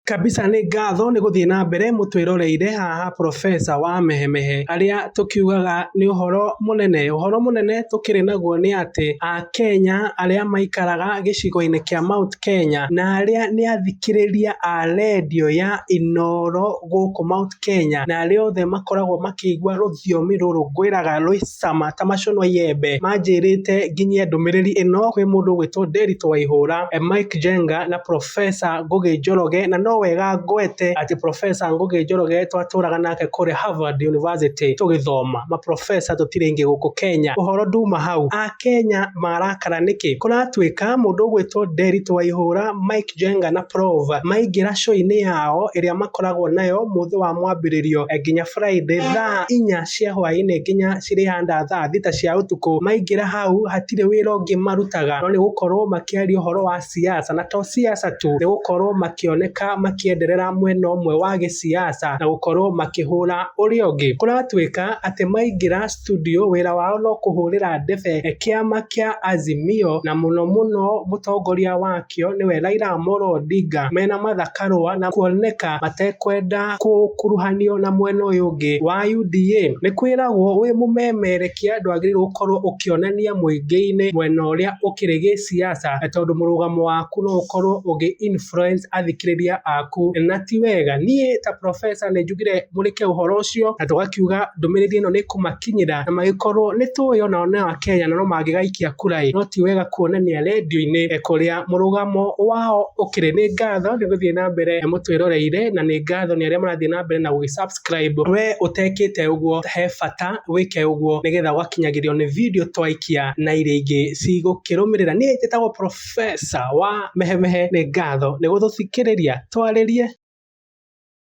Kabisa nĩ ngatho nĩ gũthiĩ na mbere mũtwĩroreire haha Profesa wa Mehemehe. Harĩa tũkiugaga nĩ ũhoro mũnene. Ũhoro mũnene tũkĩrĩ naguo nĩ atĩ Akenya arĩa maikaraga gĩcigo-inĩ kĩa Mount Kenya na arĩa nĩ athikĩrĩria a rendio ya Inooro gũkũ Mount Kenya, na arĩa othe makoragwo makĩigua rũthiomi rũrũ ngwĩraga rwĩ cama ta maco ma iembe, manjĩrĩte nginyie ndũmĩrĩri ĩno kwĩ mũndũ ũgwĩtwo Nderitu Waihũra, Mike Njenga na Professor Ngũgĩ Njoroge, na no wega ngwete atĩ Professor Ngũgĩ Njoroge twatũraga nake kũrĩa Harvard University tũgĩthoma, ma Professor tũtirĩ aingĩ gũkũ Kenya. Ũhoro nduma hau, Akenya marakara nĩkĩ? Kũratuĩka mũndũ ũgwĩtwo Nderitu Waihũra, Mike. Robert Njenga na Prov maingĩra show-inĩ yao ĩrĩa makoragwo nayo mũthĩ wa mwambĩrĩrio nginya Friday thaa inya cia hwaĩ-inĩ nginya cirĩhanda thaa thita cia ũtukũ. Maingĩra hau hatirĩ wĩra ũngĩ marutaga no nĩ gũkorwo makĩaria ũhoro wa siasa na to siasa tu nĩ gũkorwo makĩoneka makĩenderera mwena ũmwe wa gĩsiasa na gũkorwo makĩhũra ũrĩa ũngĩ. Kũratuĩka atĩ maingĩra studio wĩra wao no kũhũrĩra ndebe kĩama kĩa Azimio na mũno mũno mũtongoria wakĩo nĩwe Raila Amolo Odinga mena Martha Karũa na kuoneka matekwenda gũkuruhanio na mwena ũyũ ũngĩ wa UDA. Nĩ kwĩragwo wĩ mũmemerekia ndwagĩrĩirwo gũkorwo ũkĩonania mũingĩ-inĩ mwena ũrĩa ũkĩrĩ gĩsiasa tondũ mũrũgamo waku no ũkorwo ũgĩ influence athikĩrĩria aku na ti wega. Niĩ ta professor nĩ... tũgire mũrĩke ũhoro ũcio na tũgakiuga ndũmĩrĩri ĩno nĩ kũmakinyĩra na magĩkorwo nĩ tũĩ ona o nao Akenya na no mangĩgaikia kura ĩ no ti wega kuonania rendio-inĩ ĩ kũrĩa mũrũgamo wao ũkĩrĩ. Nĩ ngatho nĩ gũthiĩ na mbere mũtwĩroreire na nĩ ngatho nĩ arĩa marathiĩ na mbere na gũgĩ subscribe. We ũtekĩte ũguo he bata wĩke ũguo nĩ getha ũgakinyagĩrio nĩ video twaikia na iria ingĩ cigũkĩrũmĩrĩra. Niĩ njĩtagwo professor wa mehemehe. Nĩ ngatho nĩ gũtũthikĩrĩria twarĩrie.